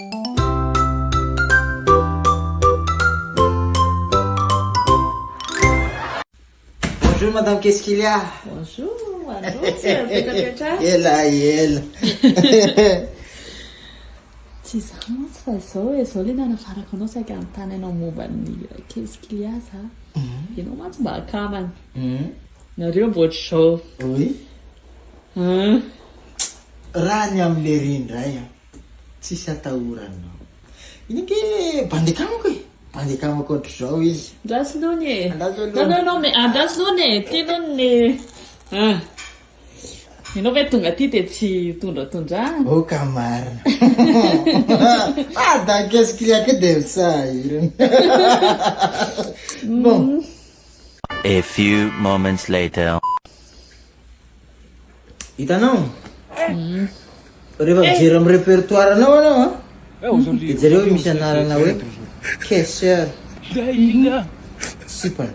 Bonjour madame qu'est-ce qu'il y a? Bonjour, bonjour, tsy mipetrapetra. Ela ela. Tsy izany mantsy fa izao e, izao le nanafarako anao saika hanontany anao momba ny qu'est-ce qu'il y a za. Ianao mantsy mba akamana. Nareo mba ohatr'izao. Oui. Raha ny amin'lery indray an. Tsisy atahoranao. Iny ange bandy akamako e! Bandy akamako ohatr'izao izy. Andraso aloha anie e! Andraso aloha. Non non non mais andraso aloha anie e! Ty non ny ah! Ianao ve tonga aty dia tsy tondratondrahana? Oh ka marina. Ah dankesy client ko dia misahirana. Bon. A few moments later. Hitanao? Mhm. Rehefa mijery amin'ny répertoire anao anao a, mhm. dia jereo hoe misy anarana hoe caissière. Sipana.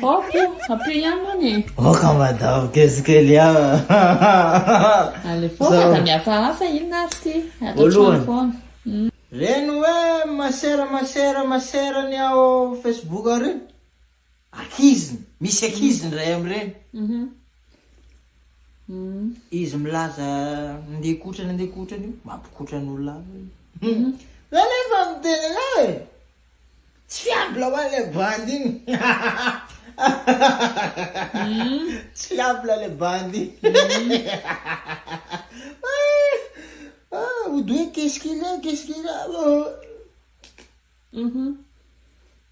Ok, hampio ihany moa ny. Ok, madame, qu'est-ce qu'il y a? Allez, foka da mihafahafa inona ary ty? Atao trano foana. Mhm. Reny hoe masera masera masera ny ao Facebook ary. Ankiziny, misy ankizy ny ray amin'ireny. Izy milaza andeha hikotrana andeha hikotrana io, mampikotrana olona hafa izy. Za anie efa miteny anao e! Tsy fiable ho an'ilay bandy iny. Tsy fiable ilay bandy iny. Odoy, qu'est-ce qu'il a, qu'est-ce qu'il a.